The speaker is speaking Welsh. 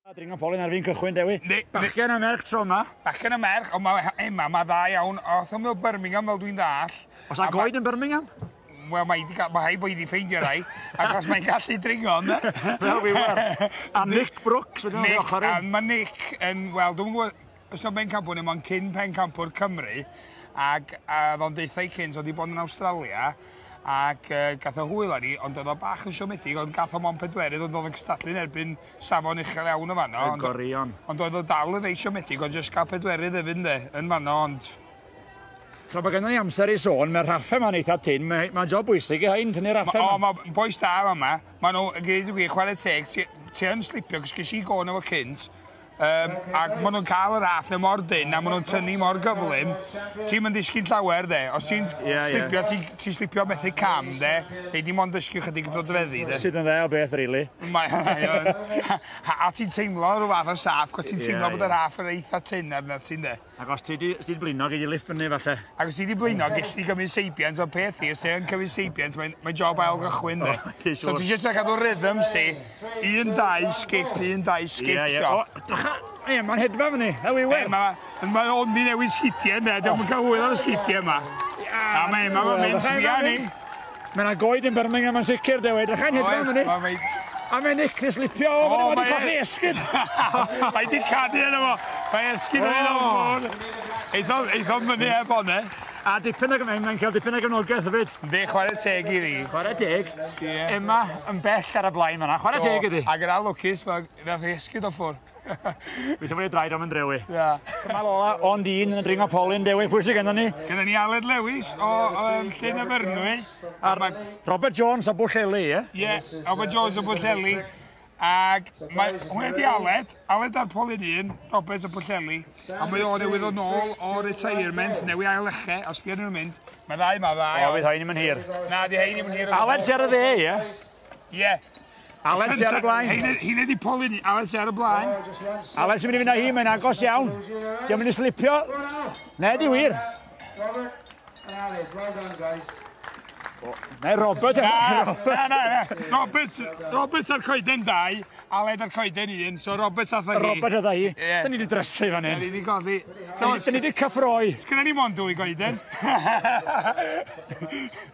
A dringo polyn ar fi'n cychwyn, Dewi. Ne, Bachgen a merch tro yma. Bachgen a merch, ond mae Emma, mae dda iawn. Oedd hwnnw Birmingham fel dwi'n dall. Os a goed yn Birmingham? Wel, mae wedi cael, mae hai bod wedi ffeindio rai, ac os mae'n gallu dringo, yna. Wel, fi wel. A Nick Brooks, wedi o'n ochr i. Mae Nick yn, wel, dwi'n gwybod, Ystod Pencampwr ddim ond cyn Pencampwr Cymru ac a oedd o'n deutha i cynt oedd wedi bod yn Awstralia ac uh, gath o hwyl â ni ond oedd o bach yn siomedig ond gath o mon pedwerydd ond oedd yn cystadlu'n erbyn safon uchel iawn o fanno ond, gorion. ond oedd o dal yn reit siomedig ond jyst cael pedwerydd efyd ynddo yn fanno ond Tra bod gennym ni amser i sôn, mae'r raffe yma'n eitha tyn, mae'n ma job bwysig i hyn, tynnu'r raffe yma. O, mae boes da yma, maen nhw, yn gwneud y gwir, chwarae teg, ti, ti yn slipio, cysgu si gôn efo cynt, Um, ac maen nhw'n cael yr half na mor dyn a maen nhw'n tynnu mor gyflym. Ti'n mynd ddysgu'n llawer, de. Os ti'n yeah, slipio, yeah. ti'n ti slipio methu cam, de. Ei di mond dysgu chydig yn dod feddi, de. Sydd yn dde o beth, rili. Really. Mae hynny. a ti'n teimlo rhyw fath o saff, cos ti'n teimlo yeah, bod yr half yn eitha tyn arnat ti'n, de. Ac os ti wedi blino, gei di lift fyny falle. Ac os ti wedi blino, gei di gymryd seibiant o'r peth i. Os ti'n cymryd seibiant, mae'n mae job ail gychwyn. Oh, okay, so ti'n just cadw rhythm sti. Un, dau, skip, un, dau, skip. Ie, ie. O, dycha. Ie, mae'n hedfa fyny. How we win. Mae ma ondi newid sgitiau yna. Dwi'n cael hwyl o'r sgitiau yma. A mae'n mynd sbia ni. Mae yna goed yn Birmingham yn sicr, Dewi. Edrych yn hedfan fan hyn. Oes, A mae Nick yn slipio o fan hyn, wedi colli e- esgyd. mae di canu yna fo. Mae esgyd yn ei ddod. Eitho'n eitho mynd i heb ond e. A dipyn ag ymwneud, mae'n cael dipyn ag ymwnogaeth hefyd. Fe chwarae teg i ddi. Chwarae teg. Emma yn bell ar y blaen fanna. Chwarae teg iddi. Ac yn alwcus, mae nath ei esgyd o ffwr. Fi'n fwy draed am yn drewi. Ia. Dyma Lola o'n dyn yn dringo polyn dewi. Pwy sydd gennym ni? Gennym ni Aled Lewis o um, Llyn y Fyrnwy. A ma... Robert Jones o Bwlleli, ie? Ie, yeah, Robert Jones o Bwlleli. Ac mae hwnna di Aled, Aled ar polyn un, Robert o Bwlleli. A mae o'n newydd o'n ôl o retirement, newydd ail eche, os bydd nhw'n mynd. Mae ddau ma, ddau. O, bydd hyn i'n mynd hir. Na, di hyn i'n mynd hir. Aled sy'n ar y dde, ie? Ie. Alex ar y blaen. Hi'n ei poli ni. Alex ar y blaen. Alex yn mynd i fynd â hi, mae'n agos iawn. Diolch mynd i slipio. Na, di wir. Na, Robert. Na, na, na. Robert, Robert a'r coeden dau, Aled a'r coeden un, so Robert a hi. Robert a hi. Dyn ni wedi drysu fan hyn. Dyn ni wedi goddi. Dyn ni wedi cyffroi. Sgynna ni mond dwy goeden.